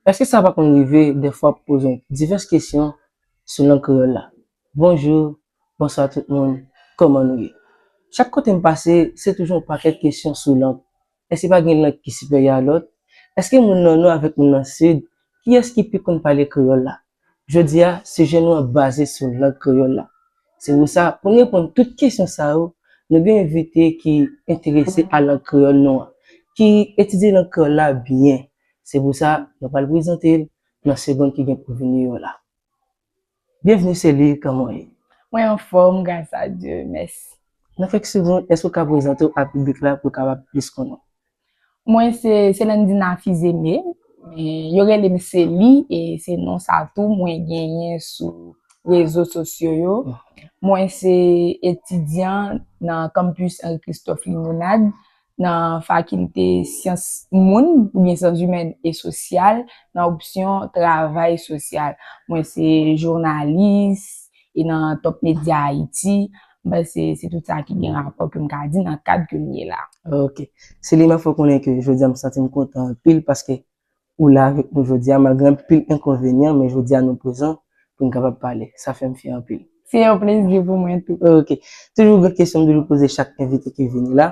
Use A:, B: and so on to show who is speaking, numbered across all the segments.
A: Èske sa pa konn rive dèfwa pou poze divès kesyon sou lang kreyòl la? Bonjou, bonswa tout moun, kòman nou ye? Chak kote m pase, se toujou yon pakèt kesyon sou lang. Èske pa gen lang ki siperyè a lòt? Èske moun nan Nò avèk moun nan Sid, kiyès ki pi konn pale kreyòl la? Jodi a, sijè nou an baze sou lang kreyòl la. Se pou sa, pou n reponn tout kesyon sa yo, nou gen envite ki enterese a lang kreyòl nou an, ki etidye lang kreyòl la byen. Se pou sa, nou pral prezante l nan segond ki gen pou vini yo la. Byenvni Célie, kòman w ye? Mwen anfòm,
B: gras a Dye, mèsi. Nan kèk segond,
A: èske w ka prezante w a piblik la pou l kapab plis konnen w? Mwen
B: se Selendina Fizeme, yo rele m Seli e se non sa tou mwen genyen sou rezo sosyo yo. Mwen se etidyan nan Campus Henri Christophe Limonade nan fakilte syans moun oubyen syans imèn e sosyal nan opsyon travay sosyal. Mwen se jounalis, E nan Top Media Haiti, m panse se tout sa ki gen rapò ke m ka di nan kad ke m ye la. Ok. Selima
A: fè w konnen ke jodi a m santi m kontan anpil paske ou la avèk nou jodi a malgre anpil enkonvenyan men jodi a nou prezan pou n kapab pale. Sa fè m fyè anpil. Se yon plezi pou
B: mwen tou. Ok. Toujou gen
A: kesyon m toujou poze chak envite ki vini la.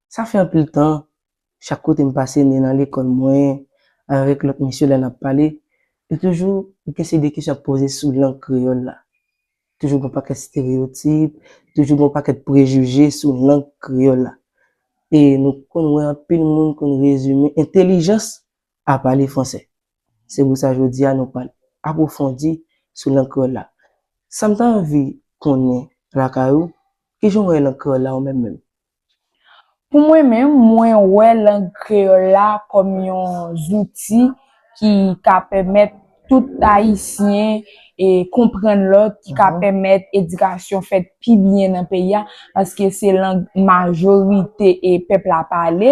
A: Sa fè anpil tan, chak kote m pase ni nan lekòl mwen, avèk lòt mesye lè n ap pale, yo toujou gen se de kesyon y ap poze sou lang kreyòl la. Toujou gen yon pakèt stereyotip, toujou gen yon pakèt prejije sou lang kreyòl la. E nou konn wè anpil moun konn rezime entelijans a pale franse. Se pou sa jodi a nou pral apwofondi sou lang kreyòl la. Sa m ta anvi konnen lakay ou, ki jan w wè lang kreyòl la ou menm menm?
B: Pou mwen menm, mwen wè lang kreyòl la kòm yon zouti ki ka pèmèt tout Ayisyen konprann lòt, ki ka pèmèt edikasyon fèt pi byen nan peyi a, paske se lang majorite pèp la pale.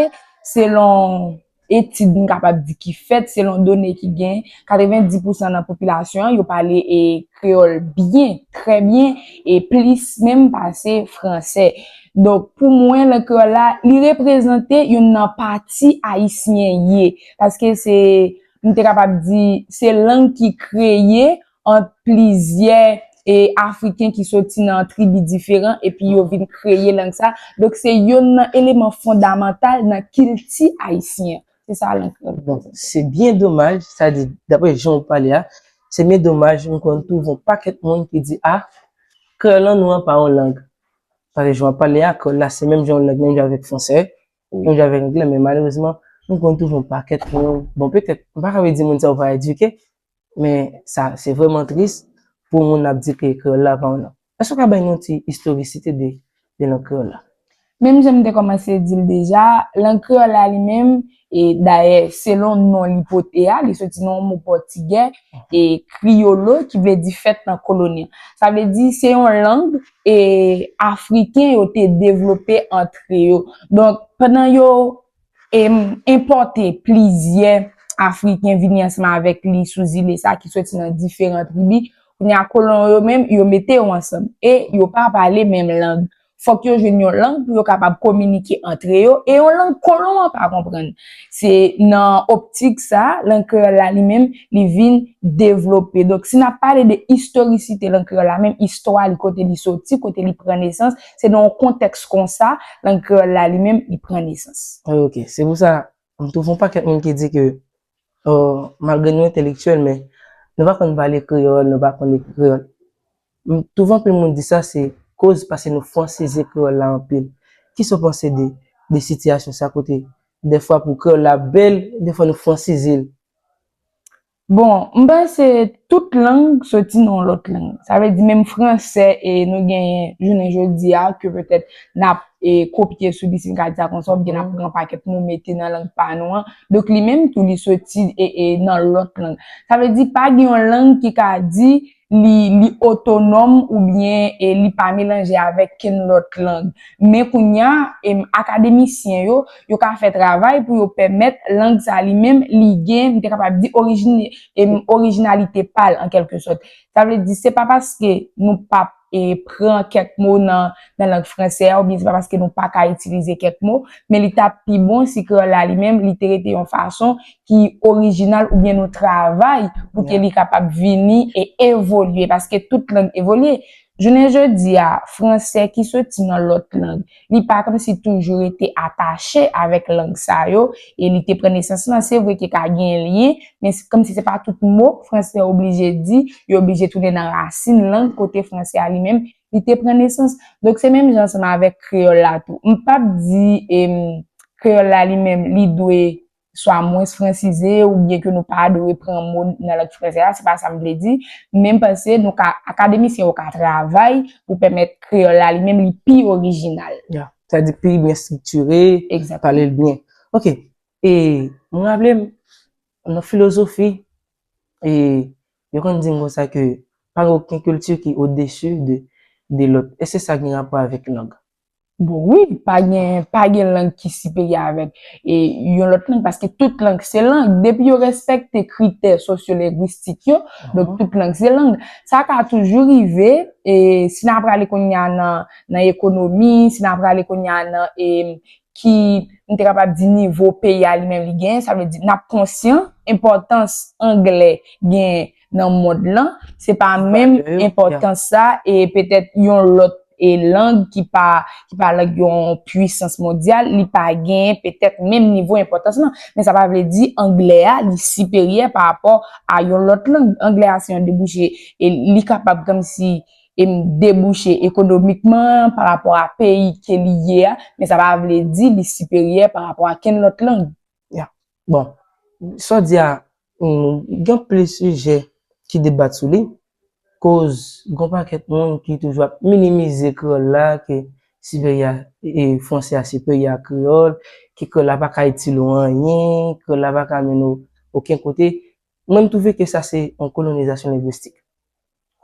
B: etid m kapab di ki fèt selon done ki gen, 90 pousan nan popilasyon an yo pale e kreyòl byen, trè byen e plis menm pase fransè. Donk, pou mwen, lang kreyòl la, li reprezante youn nan pati Ayisyen ye. Paske se, m te kapab di, se lang ki kreye ant plizyè e Afriken ki soti nan tribi diferan epi yo vin kreye lang sa a. Donk se yonn nan eleman fondamantal nan kilti ayisyen an. Se sa lang kreyòl vle di. Se byen
A: domaj, sa di, dapre jan ou pale a, se byen domaj nou konn twouve yon pakèt moun ki di a, kreyòl lan nou an pa yon lang. Paske jan w ap pale a, kreyòl la se menm jan yon lang, menm jan avèk fransè, menm jan avèk anglè men malerezman nou konn twouve yon pakèt moun, bon petèt m pa ka vle di moun sa yo pa edike, Men sa se vreman tris pou yon moun ap di ke kreyòl la pa yon lang. Èske ou ka bay nou yon ti istorisite de lang kreyòl la? Menm jan m te
B: kòmanse di l deja, lang kreyòl la li menm, e dayè selon non li pote a, li soti nan yon mo pòtigè, e crioulo ki vle di fèt nan koloni an. Sa vle di se yon lang e Afriken yo te devlope antre yo. Donk pandan yo e enpòte plizyè Afriken vini ansanm avèk li sou zile sa ki soti nan diferan tribi, kounye a kolon yo menm yo mete yo ansanm e yo pa pale menm lang. Fòk yo jwenn yon lang pou yo kapab kominike antre yo e yon lang kolon an pa konprann. Se nan optik sa a lang kreyòl la li menm li vin devlope. Donk si n ap pale de istorisite lang kreyòl la menm istwa li kote li soti, kote li pran nesans, Se nan yon kontèks kon sa, lang kreyòl la li menm, li pran nesans. Wi ok. Se pou sa,
A: nou twouve yon pakèt moun ki di ke malgre nou entelektyèl men nou pa konn pale kreyòl, nou pa konn ekri kreyòl. M twouve anpil moun di sa se koz pase nou fransize kreyòl la anpil. Kisa w panse de de sitiyasyon sa kote dèfwa pou kreyòl la bèl, dèfwa nou fransize l?
B: Bon, m panse tout lang soti nan yon lòt lang. Sa vle di menm franse e nou genyen jounen jodi a ke petèt n ap e kopye sou li si n ka di sa konsa oubyen n ap pran pakèt mo mete nan lang pa nou an. Donk li menm tou li soti e e nan lòt lang. Sa vle di pa gen yon lang ki ka di li otonòm oubyen li pa melanje avèk kenn lòt lang. Men kounye a, akademisyen yo, yo ka fè travay pou yo pèmèt lang sa a li menm, li gen, m te kapab di, orijin, orijinalite pa l an kèlke sòt. Sa vle di, se pa paske nou pa p pran kèk mo nan lang franse a oubyen se pa paske nou pa ka itilize kèk mo, men li ta pi bon si kreyòl la li menm li te rete yon fason ki orijinal oubyen nou travay pou ke li kapab vini e evolye, paske tout lang evolye. Jounen jodi a, franse ki soti nan lòt lang, li pa kòmsi toujou rete atache avèk lang sa yo, e li te pran nesans lan, se vre ke ka gen lyen, men se kòmsi se pa tout mo franse oblije di, yo oblije tounen nan rasin lang kote franse a li menm, li te pran nesans. Donk se menm jan ansanm avèk kreyòl la tou. M pap di kreyòl la li menm li dwe swa mwens fransize ou byen ke nou pa dwe pran mo nan lang franse a, se pa sa m vle di, men m panse nou ka, akademisyen yo ka travay pou pèmèt kreyòl la li menm li pi orijinal. Ya, sa di pi
A: byen striktire, pale l byen. Ok, e m raple m nan filozofi, e yo konn di m konsa ke pa gen oken kilti ki odesu de lòt. Èske sa gen rapò avèk lang? Bon wi,
B: pa gen, pa gen lang ki siperye avèk e yon lòt lang paske tout lang se lang. Depi yo respekte kritè sosyolengwistik yo, donk tout lang se lang. Sa ka toujou rive, e si nan prale kounye a nan nan ekonomi, si nan prale kounye a nan e ki m te kapab di nivo peyi a li menm li genyen, sa vle di nan konsyan enpòtans angle genyen nan mond lan, se pa menm enpòtans sa e petèt yon lòt e lang ki pa ki pa lang yon pwisans mondyal li pa gen petèt menm nivo enpòtans lan. Men sa pa vle di anglè a li siperyè pa rapò a yon lòt lang. Anglè a se yon debouche e li kapab kòmsi em debouche ekonomikman pa rapò a peyi ke li ye a men sa pa vle di li siperyè pa rapò a kenn lòt lang. Yeah. Bon,
A: sa w di a, gen anpil sijè ki debat sou li, koz gen yon pakèt moun ki toujou ap minimize kreyòl la, ke sipèryè a, franse a sipèryè a kreyòl, ke kreyòl la pa ka itil ou anyen, kreyòl la pa ka mennen ou oken kote. Mwen m twouve ke sa se yon kolonizasyon lengwistik.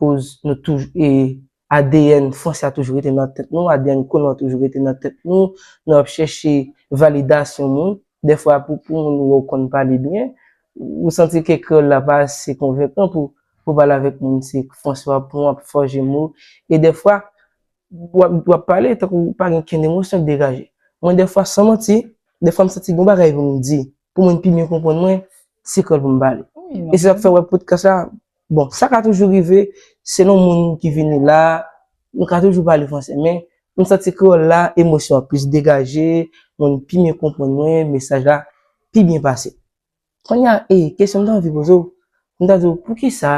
A: koz nou touj e adn fransè a toujou rete nan tèt nou, adn kolon an toujou rete nan tèt nou, nou ap chèche validasyon moun, dèfwa pou pou moun wè w konn pale byen, ou santi ke kreyòl la pa ase konvenkan pou pou pale avèk moun se fransè w ap pran w ap fòje mo, e dèfwa w ap w ap pale tankou ou pa gen kenn emosyon k degaje. Mwen dèfwa san manti, dèfwa m santi gon bagay pou m di, pou moun pi byen konprann mwen, se kreyòl pou m pale. E se sa k fè wè podkas la Bon, sa ka toujou rive, selon moun ki vini la, nou ka toujou pale franse men, m santi kreyòl la emosyon an plis degaje, moun pi byen konprann mwen, mesaj la pi byen pase. Konnya e, kesyon m ta anvi poze w, m ta di w poukisa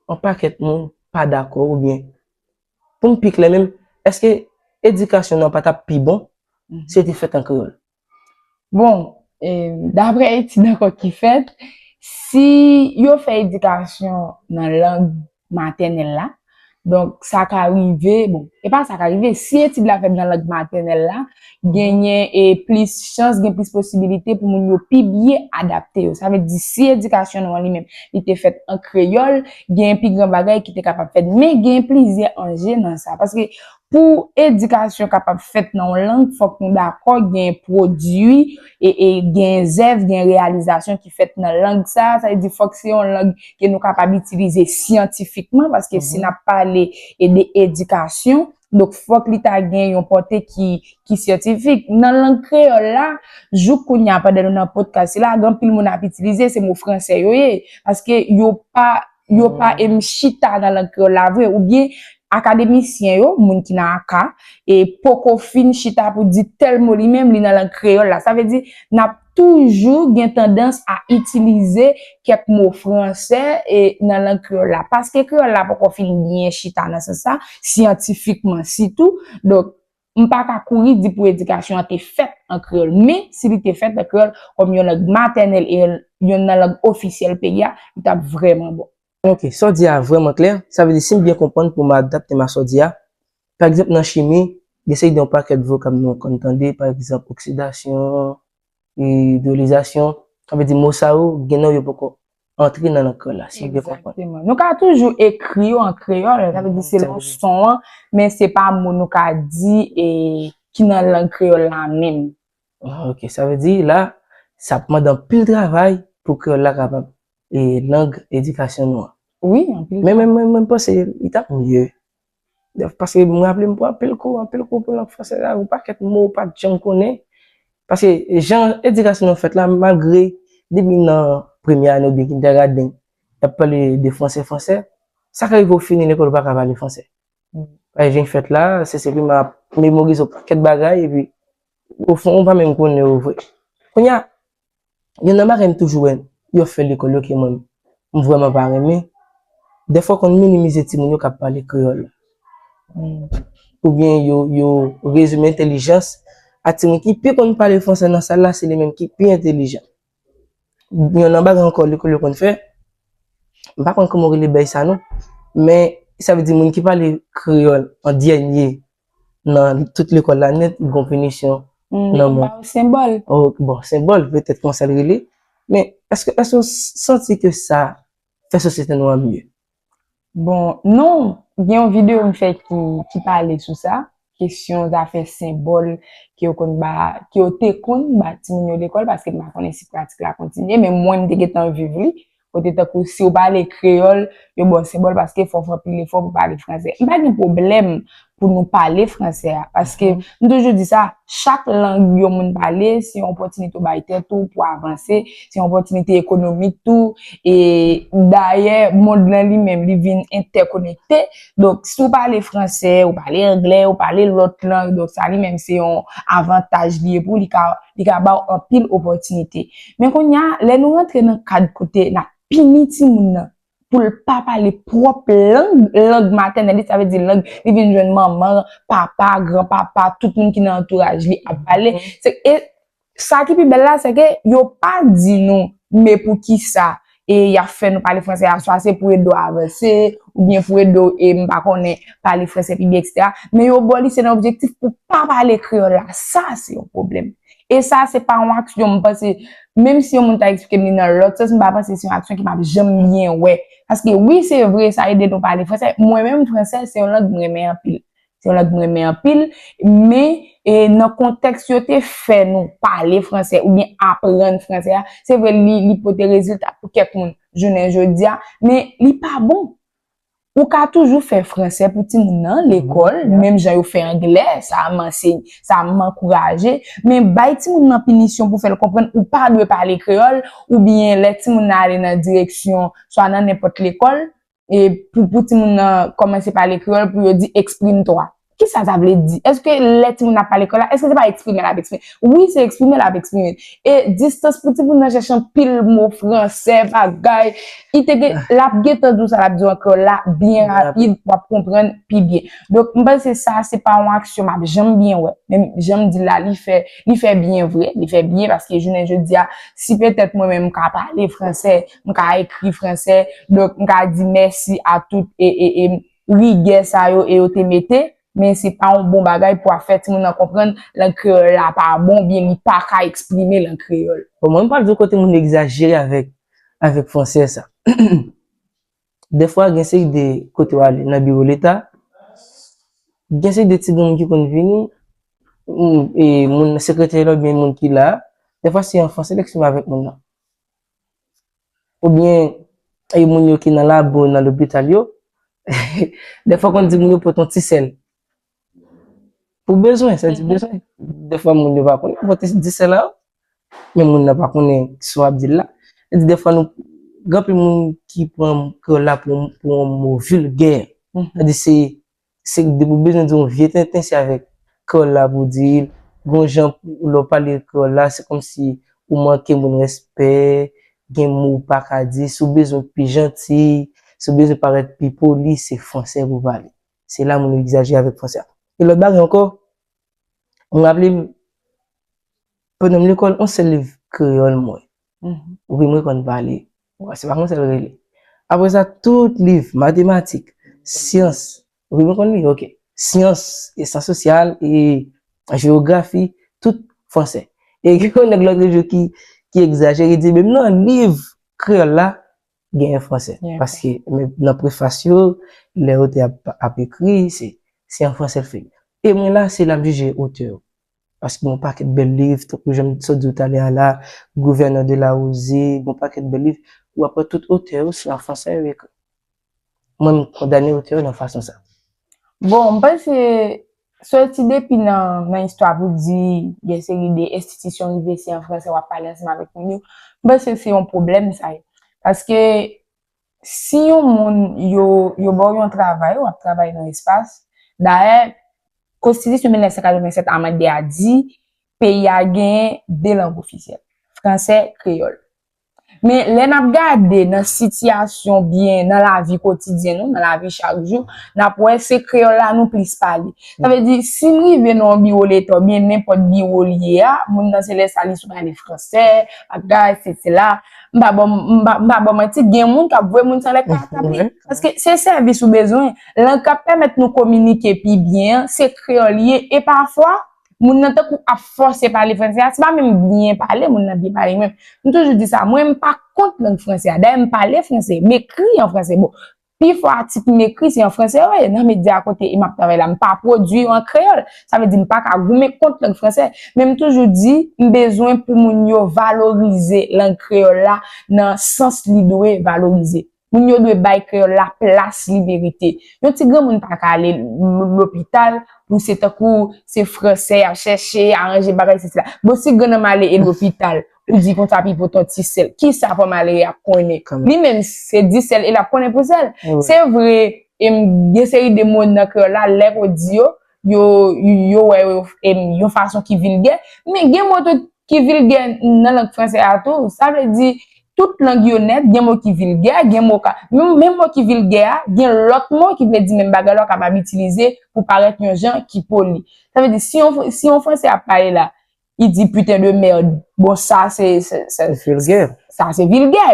A: yon pakèt moun pa dakò oubyen pou m pi klè menm, èske edikasyon nou an pa t ap pi bon si l te fèt an kreyòl? Bon,
B: dapre etid ankò ki fèt, si yo fè edikasyon nan lang matènèl la, donk sa ka rive, bon, e pa sa ka rive, si etid la fèt nan lang matènèl la, genyen e plis chans, gen plis posibilite pou moun yo pi byen adapte yo. Sa vle di si edikasyon nou an li menm li te fèt an kreyòl, genyen pi gran bagay ki te kapab fèt. Men genyen plizyè anje nan sa. Paske Pou edikasyon kapab fèt nan yon lang fòk nou dakò gen pwodui, gen zèv, gen reyalizasyon ki fèt nan lang sa a. Sa vle di fòk se yon lang ke nou kapab itilize syantifikman paske si n ap pale de edikasyon donk fòk li ta gen yon pòte ki syantifik. Nan lang kreyòl la, jouk kounya pandan nou nan podkas sila gen anpil moun ap itilize se mo fransè yo ye paske yo pa yo pa em chita nan lang kreyòl la vre oubyen akademisyen yo, moun ki nan aka, e poko fin chita pou di tèl mo li menm li nan lang kreyòl la. Sa vle di n ap toujou gen tandans a itilize kèk mo fransè e nan lang kreyòl la. Paske kreyòl la poko fin byen chita nan sans sa, syantifikman sitou, donk M pa ka kouri di pou edikasyon an te fèt an kreyòl, men si li te fèt an kreyòl kòm yon lang matènèl e yonn nan lang ofisyèl peyi a, li t ap vrèman bon. Ok, sa w di a
A: vrèman klè. Sa vle di si m byen konprann pou m adapte m a sa w di a, pa egzanp nan chimi, gen seri de yon pakèt vokab nou konn tande, pa egzanp oksidasyon, Idolizasyon, sa vle di mo sa yo gen nan yo poko antre nan lang kreyòl la, si m byen konprann. Egzakteman. Nou ka toujou
B: ekri yo an kreyòl, sa vle di selon son an, men se pa mo nou ka di e ki nan lang kreyòl la menm. Ok, sa vle
A: di la, sa ap mande anpil travay pou kreyòl la kapab e lang edikasyon nou an. Wi, anpil travay.
B: Men mwen panse
A: li t ap mye Paske m raple m pran anpil kou, anpil kou pou lang franse a, yon pakèt mo ou pa t janm konnen. Paske jan edikasyon nou fèt la, malgre depi nan premye ane oubyen kindègaden, y ap pale de franse, franse, sa ka rive ou fini lekòl ou pa ka pale franse. Lè w vin fèt la, CCP m ap memorize yon pakèt bagay epi ofon ou pa menm konnen yo vre. Kounye a, Youn nan bagay m toujou wè yo fè lekòl yo ke mwen m vrèman pa renmen, dèfwa yo konn minimize timoun yo k ap pale kreyòl. Oubyen yo yo rezime entelijans a timoun ki pi konn pale franse nan sal la se li menm ki pi entelijan. Youn nan bagay ankò lekòl yo konn fè, m pa konn kouman yo rele bèy sa non, men sa vle di moun ki pale kreyòl an dènye. nan tout lekòl la nèt, li gon pinisyon nan mwen. Yo ba ou senbòl.
B: Bon, senbòl,
A: petèt konsa l rele. Men, èske ou santi ke sa fè sosyete nou an mye? Bon,
B: non. Gen yon videyo m fè ki pale sou sa, kesyon zafè senbòl ke yo konn ba, ke yo te konn ba timoun yo lekòl, paske m pa konnen si pratik la kontinye, men mwen m te gentan viv li, Kote tankou si ou pale kreyòl, yo ba w senbòl paske fò w fè anpil efò pou w pale fransè. M pa gen pwoblèm pou nou pale fransè a paske m toujou di sa, chak lang yon moun pale se yon opòtinite ou bay tèt ou pou avanse, se yon opòtinite ekonomik tou e dayè mond lan li menm li vin entèkonekte. Donk, si ou pale franse, ou pale angle, ou pale lòt lang, donk sa li menm se yon avantaj li ye pou li ka ba ou anpil opòtinite. Men kounye a, lè nou rantre nan kad kote n ap pini timoun nan pou l pa pale pwòp lang, lang matènèl li, sa vle di lang li vin jwenn manman, papa, granpapa, tout moun ki nan antouraj li ap pale, se, e, Sa ki pi bèl la, sè ke yo pa di nou me pou ki sa e y ap fè nou pale franse a, swa se pou ede w avanse, ou byen pou ede w e m pa konnen pale franse pi byen eksetera, men yo ba w li se nan objektif pou w pa pale kreyòl la. Sa se yon pwoblèm. E sa se pa yon aksyon m panse, menm si yon moun ta eksplike m li nan lòt sans, m pa panse se yon aksyon ki m ap janm byen wè. Paske wi se vre sa ede nou pale franse, mwen menm franse se yon lang m renmen anpil. Se yon lang m renmen anpil, men nan kontèks yo te fè nou pale franse oubyen aprann franse a, se vre li pote rezilta pou kèk moun jounen jodi a, men li pa bon. Ou ka toujou fè franse pou timoun nan lekòl, menm jan yo fè angle, sa m anseye, sa m ankouraje, men bay timoun nan pinisyon pou fè l konprann ou pa dwe pale kreyòl oubyen lè timoun nan ale nan direksyon swa nan nenpòt lekòl, e pou pou timoun nan kòmanse pale kreyòl pou yo di eksprime twa. Ki sa sa vle di? Eske lè timoun nan pale kreyòl la, eske se pa eksprime l ap eksprime? Wi, se eksprime l ap eksprime. E distans pou timoun nan chèche anpil mo fransè, bagay, li te gen, l ap gen tan di w sa l ap di w an kreyòl la byen rapid, w ap konprann pi byen. Donk, m panse sa, se pa yon aksyon m ap janm byen wè. Men, jan m di l la, li fè, li fè byen vre, li fè byen paske jounen jodi a, si petèt mwen menm m ka pale fransè, m ka ekri fransè, donk m ka di mèsi a tout rigè sa yo e yo te mete, men se pa yon bon bagay pou ap fè timoun nan konprann lang kreyòl la pa bon ou byen li pa ka eksprime l an kreyòl. Bon, mwen m pral di w kote
A: moun egzajere avèk avèk fransè sa. Dèfwa gen seri de kote w ale nan biwo leta, gen seri de ti moun ki konn vini, moun, e moun sekretè la ou byen moun ki la a, dèfwa se an fransè l eksprime avèk moun nan. Ou byen e moun yo ki nan lab ou nan lopital yo, dèfwa w konn di moun yo pot yon ti sèl. Pou bezwen, sa di bezwen. Dèfwa moun yo pa konnen pou pote di sèl la, men moun nan pa konnen sa w ap di l la. Sa di dèfwa nou, gen anpil moun ki pran kreyòl la pou yon mo vilgè. Sa di se Se depi w bezwen di yon vye tenten se avèk kreyòl la pou w di l. Gon jan pou lè w pale kreyòl la se kòmsi ou manke moun respè, gen mo ou pa ka di. Si w bezwen pi janti, si w bezwen parèt pi poli se fransè pou w pale. Se la moun yo egzajere avèk fransè a. Gen lòt bagay ankò, m raple m, Pandan m lekòl, on sèl liv kreyòl mwen. Wi, mwen konn pa li. Bon, se pa konsa l rele. Apre sa, tout liv matematik, syans, wi, mwen konn li, ok, syans, e syans sosyal, e jewografi, tout franse. E gen yon nèg lòtre jou ki egzajere, li di menm nan liv kreyòl la, genyen franse. Paske menm
B: nan
A: prefas yo, lè otè a ap ekri, se an franse l fè l. E mwen la, se la m jije otè yo. Paske gen yon pakèt bèl liv, tankou jan m sot di w talè a la, Gouvènè de la Rose, gen yon pakèt bèl liv, ou ap wè tout otè yo se an fransè yo ekri. Mwen m kondane otè yo nan fason sa. Bon, m
B: panse, sèl ti depi nan istwa pou di gen seri de enstitisyon rive se an fransè w ap pale ansanm avèk moun yo, m panse se yon pwoblèm sa ye. Paske, Si yon moun yo yo ba w yon travay, w ap travay nan espas. Dayè, Konstitisyon 1987 amande a di peyi a genyen de lang ofisyèl, franse, kreyòl. Men, lè n ap gade nan sitiyasyon oubyen nan lavi kotidyen nou, nan lavi chak jou, n ap wè se kreyòl la nou plis pale. Sa vle di, si m rive nan yon biwo Leta oubyen nenpòt biwo l ye a, moun nan se lè sa li sou pale franse, bagay, sesi, sela. M pa bon, m pa, m pa bon manti, gen moun kap vwe moun san lèt pa tabli. Paske se sèvis ou bezwen. Lang kap pèmèt nou kominike pi byen an, se kreyòl li ye. E pafwa, moun nan tankou ap fòse pale franse a, se pa menm byen pale moun nan byen pale menm. M toujou di sa, mwen m pa kont lang franse a. Dayè m pale franse, m ekri an franse. Bon, Pi fò atik m ekri se an franse yo ye. Nan medya kote e m ap travay la, m pa pwodui yo an kreyòl. Sa vle di m pa ka goumen kont lang franse. Men m toujou di, m bezwen pou moun yo valorize lang kreyòl la nan sans li dwe valorize. Moun yo dwe bay kreyòl la plas li merite. Yon ti granmoun pa ka ale lopital pou se tankou se franse y ap chèche, aranje bagay sesi la. Bon si grann nan m ale e lopital? Ou di konsa pipo ton ti sèl. Kisa fwa malere a konnen. Li menm se di sèl e l ap konnen pou sèl. Se vre gen seri de mo nan kreyòl la lè ou di yo, yo wè yo yon fason ki vilgè. Men gen mo tou ki vilgè nan lang franse a tou. Sa vle di tout lang yo nèt gen mo ki vilgè. Menm mo ki vilgè a gen lòt mo ki vle di menm bagay la ou kapab itilize pou parèt yon jan ki poli. Sa vle di si yon franse ap pale la i di putain de merd, bon sa se, se, se,
A: sa se vilgè.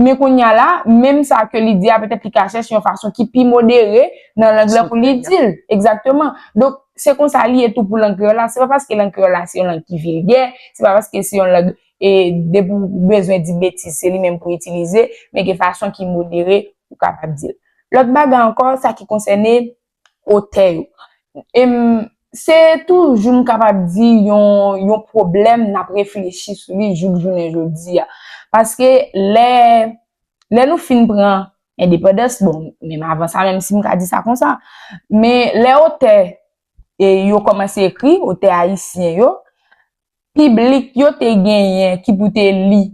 B: Men kounye a la, menm sa ke li di a petèt li ka chèche yon fason ki pi modere nan lang lan pou li di l. Egzakteman. Donk, se konsa li ye tou pou lang kreyòl la. Se pa paske lang kreyòl la se yon lang ki vilgè, se pa paske se yon lang e depi ou bezwen di betiz se li menm pou itilize, men gen fason ki modere ou kapab di l. Lòt bagay ankò, sa ki konsène. otè yo. E m Se toujou m kapab di yon pwoblèm n ap reflechi sou li jouk jounen jodi a. Paske lè lè nou fin pran endepandans, bon, menm avan sa menm si m ka di sa konsa, men lè otè yo kòmanse ekri, otè ayisyen yo, piblik yo te genyen ki pou te li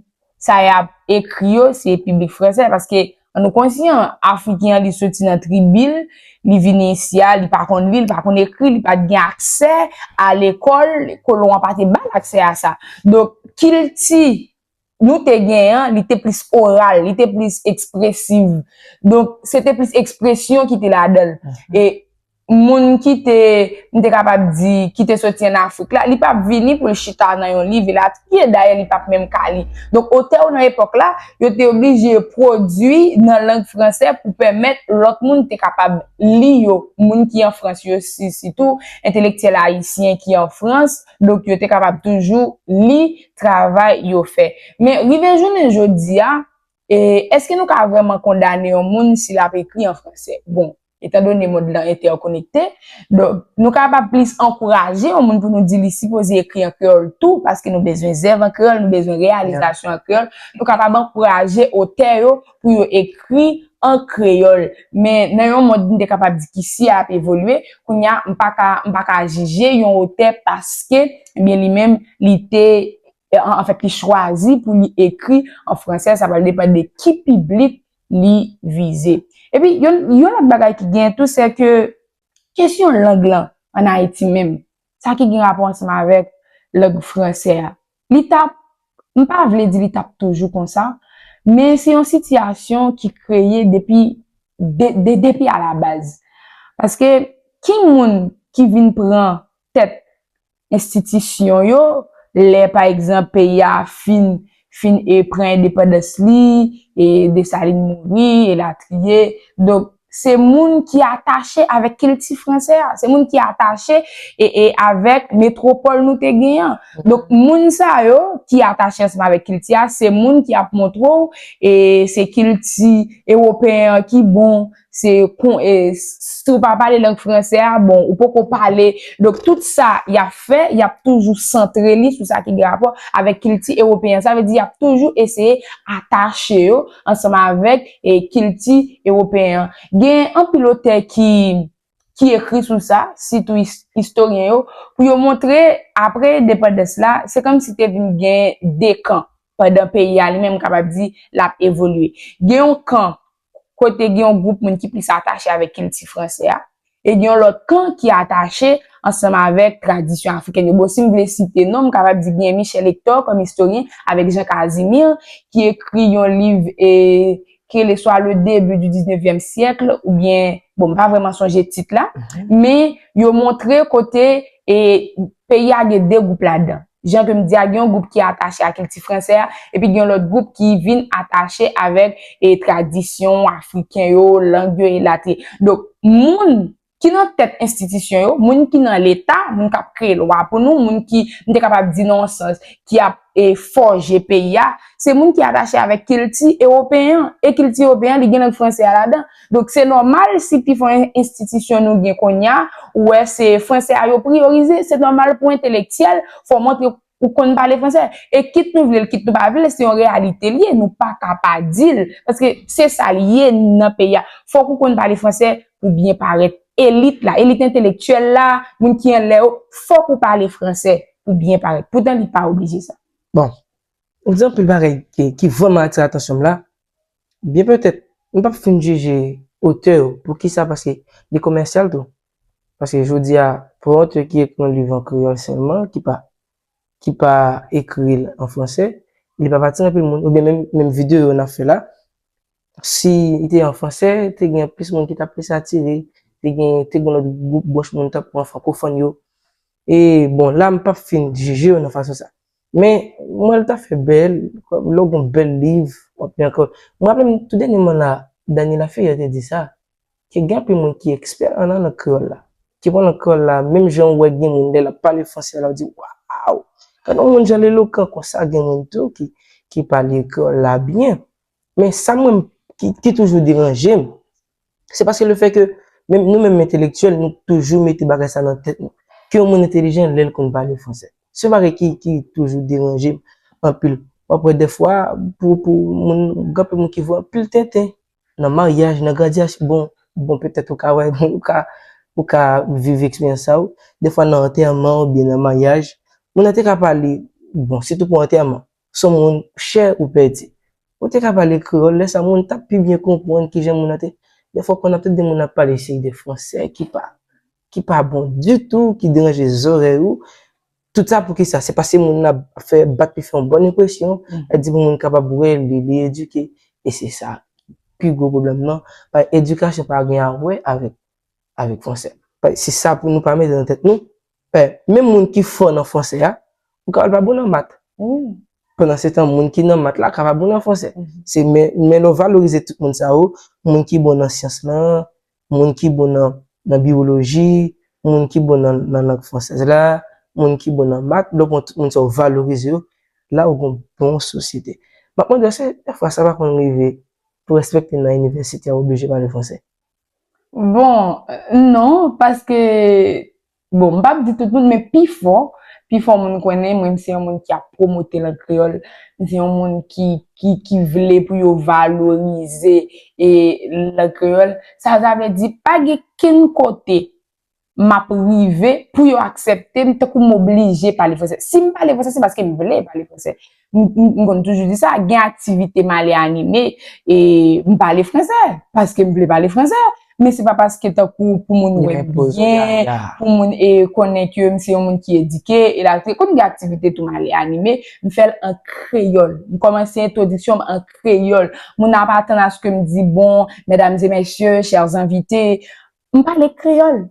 B: sa y ap ekri yo se piblik fransè paske an nou konsyan Afriken an li soti nan tribi l li vini isi a li pa konn li li pa konn ekri li pa t gen aksè a lekòl kolon an pa te ba l aksè a sa donk kilti nou te gen an, li te plis oral, li te plis ekspresiv. Donk, se te plis ekspresyon ki te ladan l. E moun ki te, m te kapab di, ki te soti an Afrik la, li pa p vini pou l chita nan yon liv elatriye. Dayè, li pa p menm ka li. Donk, otè yo nan epòk la, yo te oblije pwodui nan lang franse pou pèmèt lòt moun te kapab li yo. Moun ki an Frans yo, sitou entelektyèl ayisyen ki an Frans, Donk yo te kapab toujou li travay yo fè. Men rive jounen jodi a, e, èske nou ka vrèman kondane yon moun si l ap ekri an franse? Bon, etan done mond lan entèkonekte, donk, nou kapab plis ankouraje yon moun pou nou di li sipoze ekri an kreyòl tou paske nou bezwen zèv an kreyòl, nou bezwen reyalizasyon an kreyòl. Nou kapab ankouraje otè yo pou yo ekri an kreyòl. Men, nan yon mond m te kapab di ki si ap evolye, kounye a, m pa ka, m pa ka jije yon otè paske, ebyen li menm, li te, anfèt, li chwazi pou li ekri an franse, sa pral depann de ki piblik li vize. Epi, yon, yon lòt bagay ki genyen tou, sè ke kesyon lang lan ann Ayiti menm, sa ki gen rapò ansanm avèk lang franse a, Li t ap, m pa vle di li t ap toujou konsa, men se yon sitiyasyon ki kreye depi, de depi alabaz. Paske, ki moun ki vin pran tèt enstitisyon yo lè, pa egzanp, peyi a fin, fin e pran endepandans li, e Desalin mouri, elatriye. Donk, se moun ki atache avèk kilti franse a, se moun ki atache e avèk metwopòl nou te gen an. Donk, moun sa yo ki atache ansanm avèk kilti a, se moun ki ap montre w e se kilti ewopeyen an ki bon, se kon e si w pa pale lang franse a, bon, ou poko pale. Donk, tout sa y ap fè, y ap toujou santre li sou sa ki gen rapò avèk kilti ewopeyen an. Sa vle di y ap toujou eseye atache yo ansanm avèk. e kilti ewopeyen an. Gen anpil otè ki ki ekri sou sa, sitou istoryen yo, pou yo montre apre endepandans la, se kòmsi te vin gen 2 kan, pandan peyi a li menm kapab di l ap evolye. Gen yon kan kote gen yon gwoup moun ki plis atache avèk kilti fransè a, E gen yon lòt kan ki atache ansanm avèk tradisyon afrikèn yo. Bon, si m vle site non, m kapab di gen Michel Hector kòm istoryen avèk Jean Casimir ki ekri yon liv ki rele swa Le début du dix-neuvième siècle oubyen, bon, m pa vrèman sonje tit la, men yo montre kote peyi a gen de gwoup ladan. jan ke m di a, gen yon gwoup ki atache a kilti fransè a, epi gen yon lòt gwoup ki vin atache avèk e tradisyon afriken yo, lang yo, elatriye. Donk, moun ki nan tèt enstitisyon yo, moun ki nan Leta, moun k ap kreye lwa pou nou, moun ki, m te kapab di nan yon sans, ki ap e fòje peyi a, se moun ki atache avèk kilti ewopeyen an. E kilti ewopeyen an, li gen lang fransè a ladan. Donk se nòmal si pi fò enstitisyon nou gen konnya, ou wè se franse a yo priyorize, se nòmal pou entelektyèl fò montre ou konn pale franse. E kit nou vle l kit nou pa vle l se yon reyalite li ye, nou pa ka pa di l, paske se sa l ye nan peyi a. Fòk ou konn pale franse pou byen parèt. Elit la, elit entelektyèl la, moun ki anlè yo, fòk ou pale franse pou byen parèt. Poutan li pa oblije sa. Bon,
A: ou di anpil bagay ki vrèman atire atansyon m la, Byen petèt nou pap fin jije otè yo, poukisa paske li komèsyal tou. Paske jodi a pou yon otè ki ekri yon liv an kreyòl sèlman ki pa ki pa ekri l an fransè li pap atire anpil moun oubyen menm menm videyo n ap fè la si li te an fransè te gen plis moun ki t ap plis atire te gen te gen lòt gwoup branch moun tankou an frankofòn yo e bon la m pap fin jije yo nan fason sa. Men, mwen wè l ta fè bèl, kòm lè w gen yon bèl liv, w ap li ankò. Mwen raple m tou dènyèman la, Dany Laferrière te di sa, ke gen anpil moun ki ekspè an nan lang kreyòl la, ki pran lang kreyòl la, menm jan ou wè gen moun lè l ap pale franse la, ou di waw! Gade yon moun jan l elokan konsa, gen moun tou ki pale kreyòl la byen. Men sa mwen, ki toujou deranje m, Se paske le fè ke menm nou menm entelektyèl nou toujou mete bagay sa nan tèt nou. Ke yon moun entelijan lè l konn pale fransè. Se yon bagay ki ki toujou deranje m anpil. W ap wè dèfwa pou pou moun gen anpil moun ki voye anpil tenten nan maryaj, nan gradyasyon bon bon petèt ou ka wè ou ka ou ka viv eksperyans sa ou dèfwa nan antèman oubyen nan maryaj moun nan te ka pale bon sitou pou antèman Son moun chè ou pèdi. Ou te ka pale kreyòl, lè sa moun t ap pi byen konprann ki jan moun nan te. Dèfwa w konn ap tande moun ap pale seri de fransè ki pa ki pa bon ditou, ki deranje zòrèy ou. Tout sa pou ki sa? Se paske moun nan ap fè bat li fè yon bòn enpresyon, l ap di bon moun kapab wè l, li li edike. E se sa pi gwo pwoblèm nan. Edikasyon pa gen a wè avèk avèk fransè. Se sa pou nou pa mete nan tèt nou. Pè, menm moun ki fò nan franse a, ou ka wè l pa bon nan mat. Pandansetan, moun ki nan mat la ka pa bon nan franse. Se men, men lè w valorize tout moun sa yo, moun ki bon nan syans lan, moun ki bon nan, nan biwoloji, moun ki bon nan, nan lang fransèz la, moun ki bon nan mat, lè w pran tout moun sa yo, w valorize yo, la ou gon bon sosyete. M ap mande èske dèfwa sa pa konn rive pou enspektè nan inivèsite a oblije pale franse? Bon,
B: non, paske, bon, m pap di tout moun, men pi fò, pi fò moun konnen mwen m se yon moun ki ap pwomote lang kreyòl, m se yon moun ki, ki, ki vle pou yo valorize e lang kreyòl. Sa sa vle di, pa gen kenn kote m ap rive pou yo aksepte m tankou m oblije pale franse. Si m pale franse, se paske m vle pale franse. M konn toujou di sa, gen aktivite m ale anime, e m pale franse, paske m vle pale franse. Men se pa paske tankou pou moun wè m byen, pou moun e konnen ke m se yon moun ki edike, elatriye. Konn gen aktivite tou m ale anime, m fè l an kreyòl. M kòmanse entwodiksyon m an kreyòl. Moun nan ap atann aske m di, bon, medam e mesye, chèrs envite, M pale kreyòl.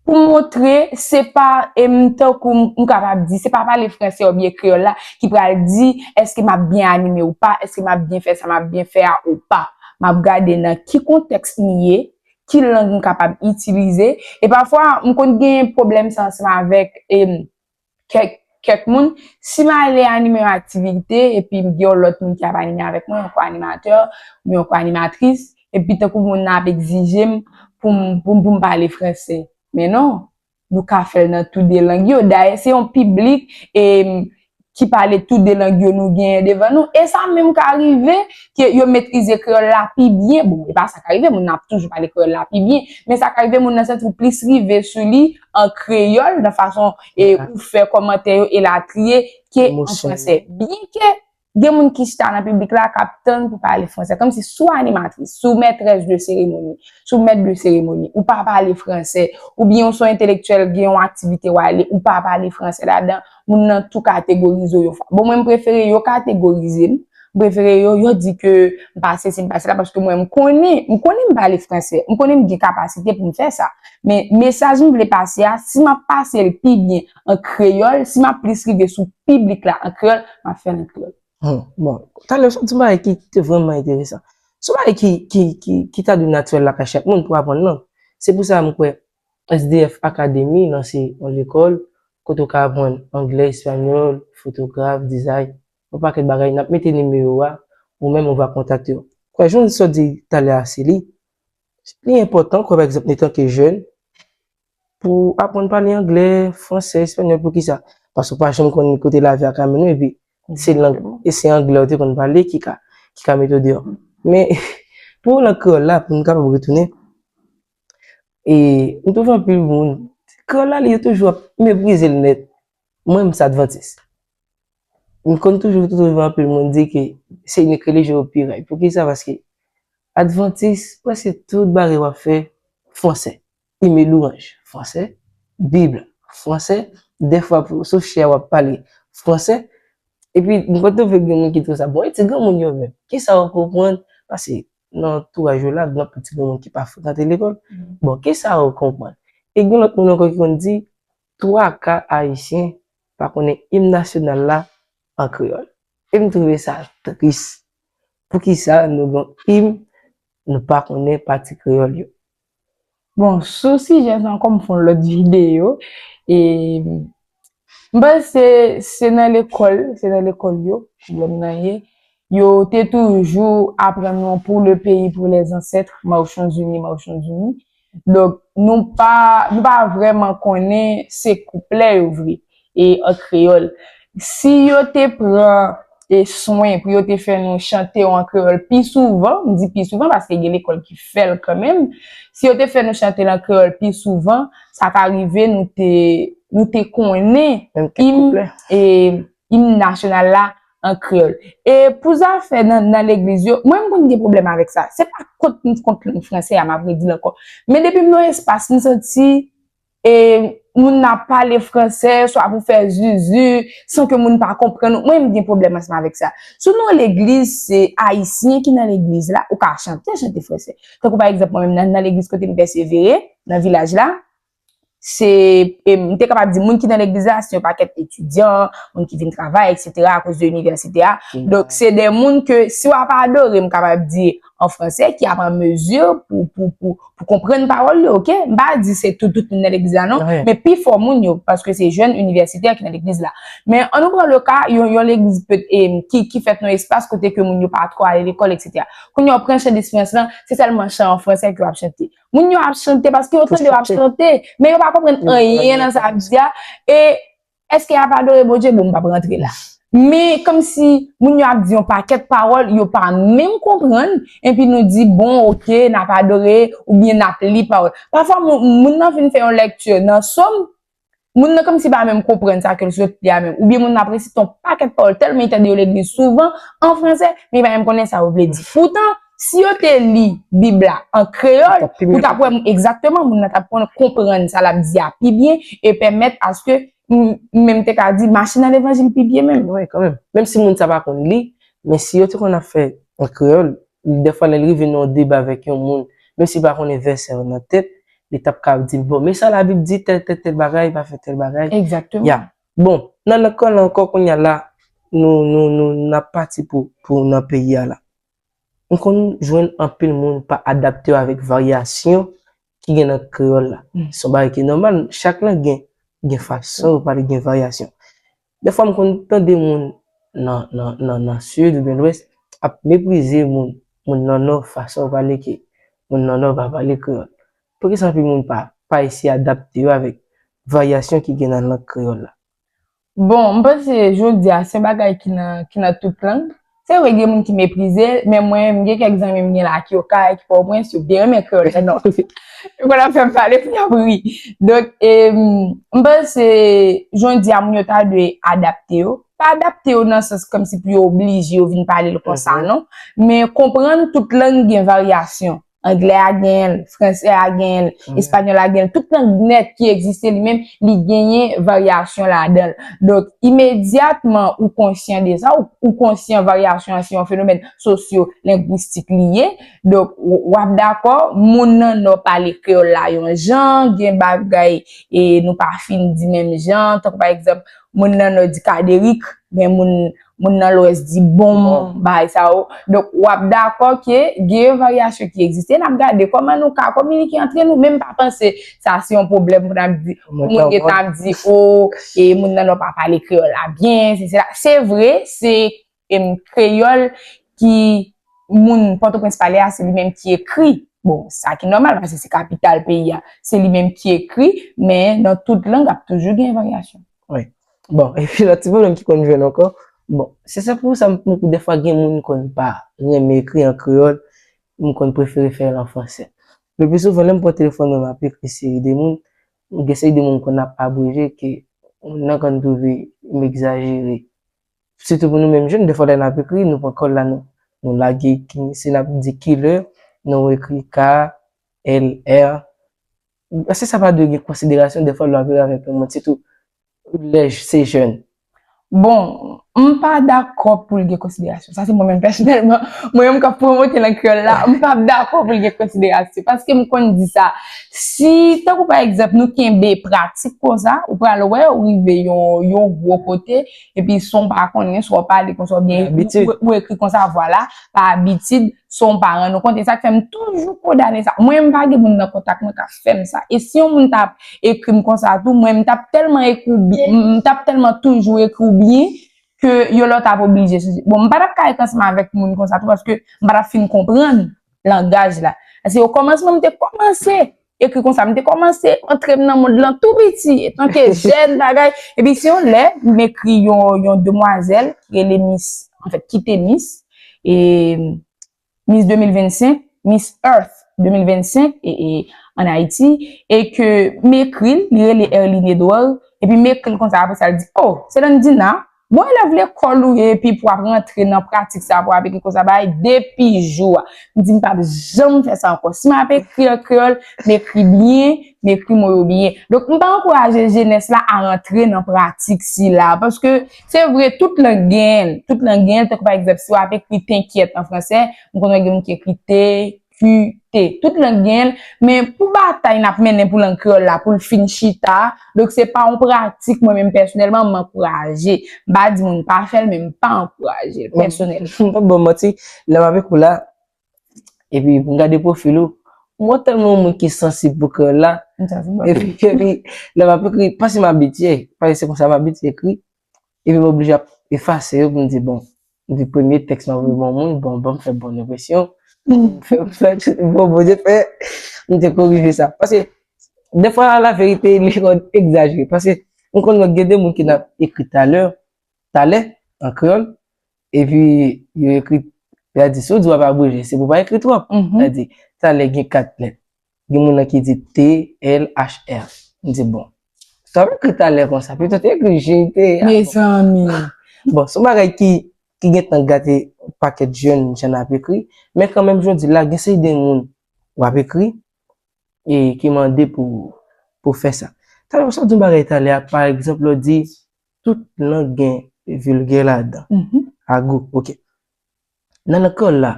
B: Pou montre se pa m tankou m kapab di, se pa pale franse oubyen kreyòl la ki pral di èske m ap byen anime ou pa, èske m ap byen fè sa m ap byen fè a ou pa. M ap gade nan ki kontèks m ye, ki lang m kapab itilize. E pafwa, m konn gen pwoblèm sa ansanm avèk kèk kèk moun, si m ale anime yon aktivite epi m gen yon lòt moun ki ap anime avèk mwen, yon ko-animatè oubyen yon ko-animatris, epi tankou moun nan ap egzije m pou m pou m pou m pale franse. Men non, nou ka fè l nan tou de lang yo. Dayè se yon piblik e ki pale tou de lang yo nou genyen devan nou. E sa menm ka rive ke yo metrize kreyòl la pi byen. Bon, e pa sa ka rive, moun nan ap toujou pale kreyòl la pi byen. Men sa ka rive moun nan santi l plis rive sou li. an kreyòl, nan fason e ou fè kòmantè yo elatriye, ke an fransè. Byen ke gen moun ki chita nan piblik la k ap tann pou pale fransè. Kòm si si w animatris, si w mètrès de seremoni, si w mèt de seremoni, ou pa pale fransè, oubyen ou se yon entelektyèl, gen yon aktivite w ale, ou pa pale fransè ladan, moun nan tou kategorize w yon fwa. Bon mwen m prefere yo kategorize m, m prefere yo, yo di ke m pa sesi, m pa sela paske mwen m konnen, m konnen m pale franse, m konnen m gen kapasite pou m fè sa. Men mesaj m vle pase a, si m ap pase l pi byen an kreyòl, si m ap plis rive sou piblik la an kreyòl, m ap fè l an kreyòl. Hum, bon. Talè
A: ou sot di yon bagay ki te vrèman enteresan. Se yon bagay ki ta dwe natirèl lakay chak moun pou aprann lang. Se pou sa m kwè SDF Academy nan se yon lekòl kote ou ka aprann anglè, espagnol, fotograf, dizay, yon pakèt bagay nap mete nimewo a ou menm ou va kontakte yo. Kwè jan Wilson di talè a se li li enpòtan kwè pa egzanp etan ke jèn pou aprann pale anglè, fransè, espagnol poukisa paske ou pa janm konn ni kote lavi a ka mennen w epi se lang e se anglè ou te konn pale ki ka ki ka mete w deyò men pou lang kreyòl la pou nou kapab retounen E m twouve anpil moun, kreyòl la li yo toujou ap meprize l nèt. Mwen m se advantis. M konn toujou twouve anpil moun di ke se inik relijyon yo pi règ. Poukisa? Paske advantis prèske tout bagay w ap fè fransè. Premye lwanj fransè, bib la fransè, dèfwa pou sof chè a w ap pale fransè. Epi m konn twouve gen moun ki twouve sa bon. E ti granmoun yo menm? Kisa yo konprann? Pase nan antouraj ou la, gen anpil ti granmoun ki pa frekante lekòl. Bon, ki sa ou konprann? E gen lòt moun ankò ki konn di, twaka Ayisyen pa konnen im nasyonal la an kreyòl. E m twouve sa tris. Poukisa nou gen yon im nou pa konnen pati kreyòl yo? Bon,
B: sou sijè sa ankò m fè yon lòt videyo e m panse se nan lekòl, se nan lekòl yo pwoblèm nan ye. Yo te toujou aprann nou pou le peyi pou lè zansèt, mawchan zini, mawchan zini. Donk nou pa nou pa vrèman konnen se kouplè yo vre. e an kreyòl. Si yo te pran e swen pou yo te fè nou chante yo an kreyòl pi souvan, m di pi souvan paske gen lekòl ki fè l kanmenm, si yo te fè nou chante l an kreyòl pi souvan, sa ka rive nou te nou te konnen im e im nasyonal la an kreyòl. E pou zafè nan nan legliz yo, mwen m konn gen pwoblèm avèk sa. Se pa kont m kont lang fransè a, m ap redi l ankò. Men depi m nan yon espas m santi e moun nan ap pale fransè swa pou fè zuzu san ke moun pa konprann ou, mwen m gen pwoblèm ansanm avèk sa. Si w nan legliz se ayisyen ki nan legliz la, ou ka chante, chante fransè. Tankou pa egzanp mwen menm nan legliz kote m pèsevere, nan vilaj la, se m te kapab di moun ki nan legliz la se yon pakèt etidyan, moun ki vin travay, eksetera, akoz de inivèsite a. Donk se de moun ke si w ap adore m kapab di. an fransè ki ap an mezi pou konprann pawòl yo, ok? M pa di se tout moun nan legliz la non, men pi fò moun yo, paske se jèn inivèsitè ki nan legliz la. Men an nou pran le ka yon legliz ki fèt nan yon espas kote ke moun yo pa twò ale lekòl eksetera. Kounye a ou pran chan Despyans lan, se sèlman chan an fransè ke yo ap chante. Moun yo ap chante paske yo tande yo ap chante, men yo pa konprann anyen nan sa ap di a e Eske yap adore Bondye bon m pap rantre la. Men komsi moun yo ap di yon pakèt pawòl yo pa menm konprann enpi nou di bon ok nap adore oubyen nap li pawòl. Pafwa moun nan fin fè yon lèkti nan Som, moun nan komsi pa menm konprann sa kel sot li a menm oubyen moun nan ap resite yon pakèt pawòl tèlman li tande yo legliz souvan an fransè men li pa menm konnen sa yo vle di. Poutan Si yo te li Bib la an kreyòl, ou t ap wè egzakteman moun nan t ap konprann sa l ap di a pi byen e pèmèt aske m menm te ka di mache nan levanjil pi byen menm. Wi, kanmenm. Menm si moun
A: sa pa konn li, men si yo te konn ap fè an kreyòl, dèfwa lè l rive nan yon deba avèk yon moun, menm si l pa konnen vèsè yo nan tèt, li t ap ka di l, bon, men sa Labib di, tèl tèl tèl bagay pa fè tèl bagay. Egzakteman. Ya.
B: Bon,
A: n al nan kanal ankò kounye a la, nou, nou, nou, n ap pati pou, pou nan peyi a la. m konn jwenn anpil moun pa adapte yo avèk varyasyon ki gen nan kreyòl la. Se yon bagay ki nòmal, chak lang gen gen fason yo pale, gen varyasyon. Dèfwa m konn tande moun nan nan sid oubyen lwès ap meprize moun moun nan nò fason yo pale ke moun nan nò pa pale kreyòl. Poukisa anpil moun pa pa eseye adapte yo avèk varyasyon ki gen nan lang kreyòl la? Bon, m
B: panse jodi a, se yon bagay ki nan, ki nan tout lang. Se vre gen moun ki meprize l, men mwen, m gen kèk zanmi m gen la ki Okay, ki Pòtoprens, yo byen renmen kreyòl la non. Yo konn ap fè m pale pou y ap ri. Donk, e, m panse jodi a moun yo ta dwe adapte yo. Pa adapte yo nan sans kòmsi pou yo oblije yo vin pale l konsa non, men konprann tout lang gen varyasyon. Anglè a genyen l, fransè a genyen l, espanyòl la genyen l. Tout lang nèt ki egziste li menm, li genyen varyasyon ladan l. Donk, imedyatman ou konsyan de sa, ou konsyan varyasyon an se yon fenomèn sosyolengwistik li ye. Donk, w ap dakò, moun nan Nò pale kreyòl la yon jan, gen bagay nou pa fin di menm jan. Tankou pa egzanp, moun nan Nò di kaderik, men moun. moun nan lwès di bon bay sa yo. Donk, w ap dakò ke gen yon varyasyon ki egziste. N ap gade kòman nou ka kominike antre nou. Men m pa panse sa se yon pwoblèm pou n ap di, pou moun gen tan ap di o, e moun nan nò pa pale kreyòl la byen, se se la. Se vre, se kreyòl ki moun Pòtoprens pale a, se li menm ki ekri. Bon, sa ki nòmal, paske se kapital peyi a. Se li menm ki ekri, men nan tout lang ap toujou gen varyasyon. Wi. Bon,
A: epi lòt ti pwoblèm ki konn jwenn ankò, bon, se sa pou sa m konn tou dèfwa gen moun konn pa renmen ekri an kreyòl, m konn prefere fè l an fransè. Lepi souvan lè m pran telefòn mwen m ap ekri seri de moun, gen seri de moun m konn ap abreje ke moun nan konn twouve m egzajere. Sitou pou nou menm jèn, dèfwa lè n ap ekri, nou pran kòl la nou nou lage ki si n ap di kilè, nou ekri k, l, r, Eske sa pa dwe gen konsiderasyon dèfwa lwa vire avèk yon mòd sitou lè se jèn? Bon,
B: m pa dakò pou l gen konsiderasyon. Sa se mwen menm pèsonèlman. Mwen menm k ap pwomote lang kreyòl la, m pa dakò pou l gen konsiderasyon. Paske m konn di sa, si tankou pa egzanp nou kenbe pratik konsa, ou pral wè ou rive yon gwo kote, Epi son w pa konnen, swa w pale konsa oubyen ou ekri konsa vwa la pa abitid, son w pa rann ou kont. E sa k fè m toujou kondane sa. Mwen m pa gen moun nan kontak mwen k ap fè m sa. E si yon moun ta ap ekri m konsa tou, mwen m t ap tèlman ekri w byen, m t ap tèlman toujou ekri w byen ke yon lòt ap oblije sezi. Bon, m pa t ap ka ret ansanm avèk moun konsa tou paske m pa t ap fin konprann langaj la. Paske okòmansman m te kòmanse. ekri konsa. M te kòmanse antre m nan mond lan tou piti, etanke jèn bagay. Epi se yon lè, m ekri yon demwazèl ki rele mis, anfèt ki te mis, e mis 2025, mis Earth 2025 e an Ayiti, e ke m ekri l, li rele Erline Edouard, epi m ekri l konsa apre sa l di, o, se Landina, Bon elèv lekòl ou ye epi pou ap rantre nan pratik sa pou ap ekri konsa bay depi jou a. M di m pap janm fè sa ankò. Si m ap ekri an kreyòl, m ekri byen, m ekri mo yo byen. Donk m ta ankouraje jenès la a rantre nan pratik sila. Paske se vre tout lang gen l, tout lang gen l tankou pa egzanp si w ap ekri tenkyèt an fransè, m konnen gen moun ki ekri te QT. Tout lang gen l, men pou batay n ap mennen pou lang kreyòl la pou l fin chita, donk se pa yon pratik mwen menm pèsonèlman m ankouraje. M pa di moun pa fè l, men m pa ankouraje l pèsonèlman. M p ap ba w manti,
A: lè m avèk ou la, epi m gade pwofil ou, m wè w tèlman yon moun ki sansib pou kreyòl la, epi lè m ap ekri, pa si m abitye, paske se konsa m abitye ekri, Epi m oblije ap efase yo pou m di bon, m di premye tèks mwen voye bon moun, bon banm fè bon enpresyon, bon bon je fè, m te korije sa. Pase, defwa la verite li konn egzajere. Pase, m konn wè gen de moun ki nan ap ekri talè, talè, an kreyòl, epi yo ekri, y a di si w di w ap abreje se pou w pa ekri twòp. Y a di talè gen 4 lèt. Gen moun nan ki di TLHR. M di bon. Sa w ekri talè konsa? Pito te ekri jete a. Mezanmi!
B: Bon, se yon bagay
A: ki gen tan gate yon pakèt jèn jan n ap ekri. Men kanmenm jodi la, gen seri de moun w ap ekri e ki mande pou w fè sa. Talè sa w di yon bagay talè a, pa egzanp lè w di tout lang gen vilgè ladan. Ago, ok. Nan lekòl la,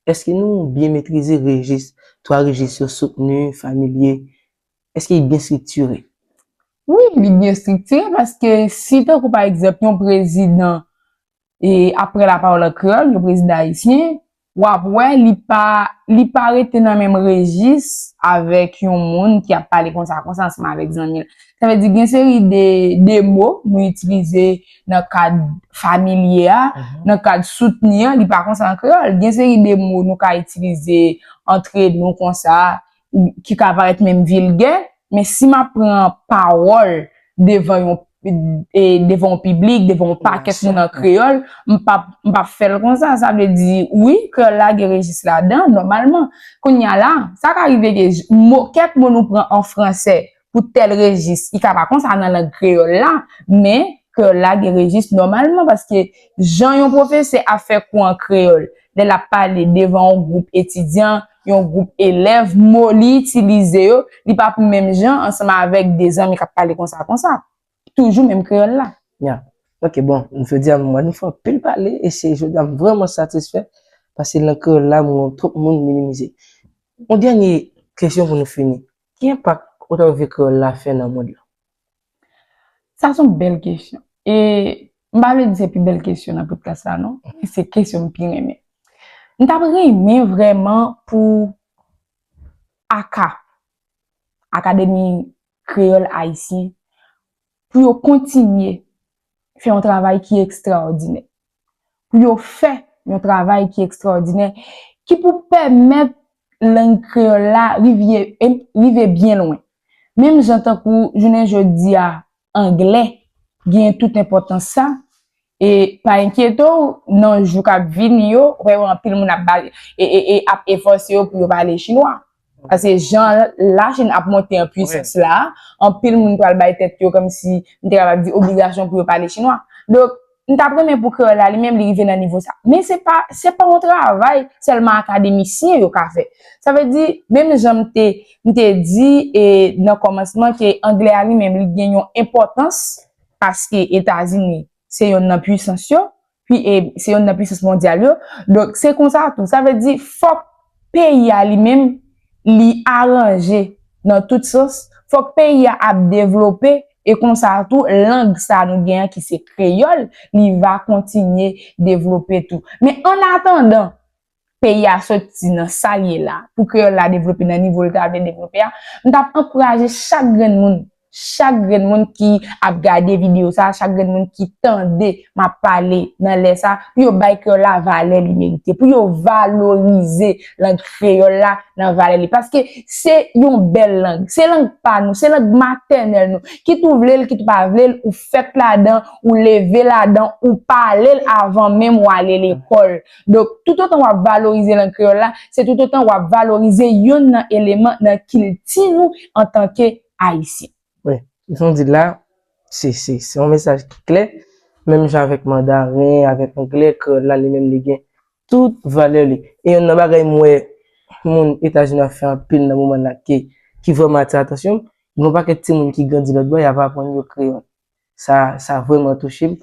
A: èske nou byen metrize rejis, twa rejis yo, soutni, familye, èske li byen striktire? Wi,
B: li byen striktire paske si tankou pa egzanp yon prezidan ap pran lapawòl an kreyòl, yon prezidan ayisyen, w ap wè li pa, li pa rete nan menm rejis avèk yon moun ki ap pale konsa konsa ansanm avèk zanmi l. Sa vle di gen seri de mo nou itilize. nan kad familye a, nan kad soutni an, li pa konsa an kreyòl. Gen seri de mo nou ka itilize antre nou konsa, ki ka parèt menm vilgè, men si m ap pran pawòl devan yon devan yon piblik, devan yon pakèt moun an kreyòl, m p ap, m p ap fè l konsa. Sa vle di, wi, kreyòl la gen rejis ladan, nòmalman. Kounye a la, sa ka rive ke mo, kèk mo nou pran an fransè pou tèl rejis. I ka pa konsa nan lang kreyòl la, men kreyòl la gen rejis nòmalman paske jan yon pwofesè ap fè kou an kreyòl lè l ap pale devan yon gwoup etidyan, yon gwoup elèv, mo li itilize yo, li pa pou menm jan ansanm avèk de zanmi k ap pale konsa konsa. Toujou menm kreyòl la. Ya. Ok,
A: bon, jodi a m wè nou fè anpil pale e se jodi a m vrèman satisfè paske lang kreyòl la m wè twòp moun minimize. Yon dènye kesyon pou nou fini. Ki enpak otografie kreyòl la fè nan mond lan?
B: Sa son bèl kesyon. E m pa vle di se pi bèl kesyon nan podcast la non. Men se kesyon m pi renmen. M t ap renmen vrèman pou aka, Akademi Kreyòl Ayisyen, pou yo kontinye fè yon travay ki ekstraòdinè, pou yo fè yon travay ki ekstraòdinè, ki pou pèmèt lang kreyòl la rive byen lwen. Menm jan tankou jounen jodi a anglè genyen tout enpòtans sa, E pa enkyete w, nan jou k ap vini yo, w va wè anpil moun ap pale, e ap efòse yo pou yo pale chinwa. Pase jan Lachin ap monte an pwisans la, anpil moun pral bay tèt yo kòmsi, m te kapab di, obligasyon pou yo pale chinwa. Donk, m t ap renmen pou kreyòl la li menm li rive nan nivo sa. Men se pa, se pa yon travay sèlman akademisyen yo ka fè. Sa vle di, menm jan m te, m te di e nan kòmansman ke angle a li menm li gen yon enpòtans, paske Etazini se yonn nan pwisans yo, pi e se yonn nan pwisans mondyal yo, donk se konsa tou, sa vle di fòk peyi a li menm li aranje nan tout sans, fòk peyi a ap devlope e konsa tou lang sa nou gen an ki se kreyòl li va kontinye devlope tou. Men annatandan, peyi a soti nan sa l ye la, pou kreyòl la devlope nan nivo l ta vle devlope a, m t ap ankouraje chak grenn moun, chak grenn moun ki ap gade videyo sa a, chak grenn moun ki tande m ap pale nan lè sa a, pou yo bay kreyòl la valè li merite, pou yo valorize lang kreyòl la nan valè li. Paske se yon bèl lang, se lang pa nou, se lang matènèl nou. Kit ou vle l, kit ou pa vle l, ou fèt ladan, ou leve ladan, ou pale l avan menm ou ale lekòl. Donk, toutotan w ap valorize lang kreyòl la, se toutotan w ap valorize youn nan eleman nan kilti nou antanke Ayisyen. Wi. Jan
A: w di l la, se, se, se yon mesaj ki klè. Menm jan avèk mandaren, avèk anglè, kreyòl la li menm li gen tout valè li. E youn nan bagay m wè moun Etazini ap fè anpil nan moman l la ki, ki vrèman atire atansyon m, gen yon pakèt timoun ki grandi lòtbò y ap aprann yo kreyòl. sa sa vreman touche m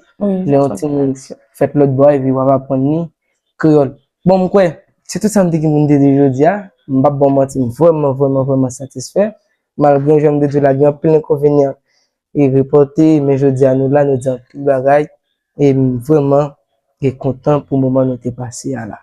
A: lè yon timoun fèt lòt bò epi wap aprann li kreyòl bon m kwè se tout sa m te gen pou m te di jodi a m pap ba w manti m vreman vreman vreman satisfè malgre jan m te di w la gen anpil enkonvenyan e repòte men jodi a nou la nou di anpil bagay e m vreman e kontan pou moman nou te pase a la.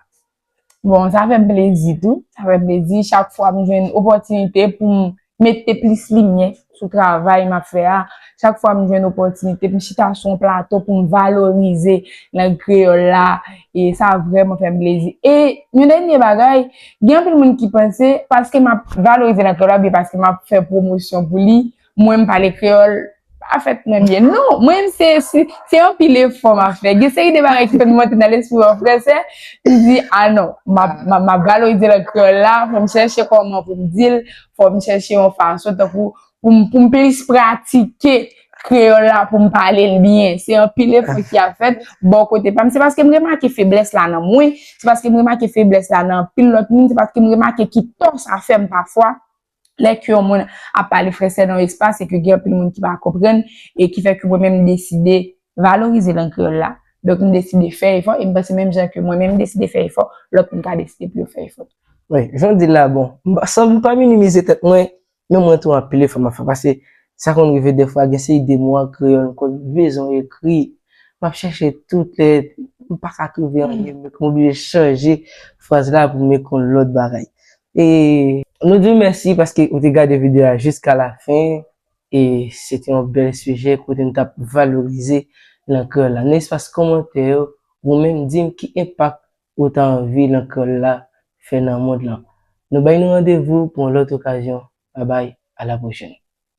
A: Bon, sa fè
B: m plezi tou. Sa fè m plezi chak fwa m jwenn opòtinite pou m mete plis limyè sou travay m ap fè a. Chak fwa m jwenn opòtinite pou m chita sou yon plato pou m valorize lang kreyòl la, e sa vrèman fè m plezi. E yon dènye bagay, gen anpil moun ki panse paske m ap valorize lang kreyòl la oubyen paske m ap fè pwomosyon pou li, Mwen m pale kreyòl pa fè trè byen. Non, mwen m se, se anpil efò m ap fè. Gen seri de bagay ki konn monte nan lespri w an fransè, m di, a non, m ap, m ap valorize lang kreyòl la, fò m chèche kòman pou m di l, fò m chèche yon fason tankou pou m, pou m plis pratike kreyòl la pou m pale l byen. Se anpil efò ki ap fèt bò kote pa m. Se paske m remake feblès la nan mwen, se paske m remake feblès la nan anpil lòt moun, se paske m remake ki tò sa fè m pafwa. Lè ke yon moun ap pale fransè nan yon espas e ke gen anpil moun ki pa konprann e ki fè ke mwen menm m deside valorize lang kreyòl la, donk m deside fè efò e m panse menm jan ke mwen menm m deside fè efò, lòt moun ka deside pou yo fè efò tou. Wi, jan w di l la
A: bon. San m pa minimize tèt mwen, men mwen tou anpil efò m ap fè paske sa konn rive dèfwa gen seri de mo an kreyòl m konn bezwen ekri, m ap chèche tout lè m pa ka twouve anyen m oblije chanje fraz la pou m ekon lòt bagay. E nou diw mèsi paske ou te gade video a jiska la fen e se te yon bèl sijè kote nou tap valorize lang kreyòl la. Nan espas kòmantè yo ou menm dim ki enpak ou ta anvi lang kreyòl la fè nan mond lan. Nou bay nou randevou pou yon lòt okazyon. Babay a la pwochèn.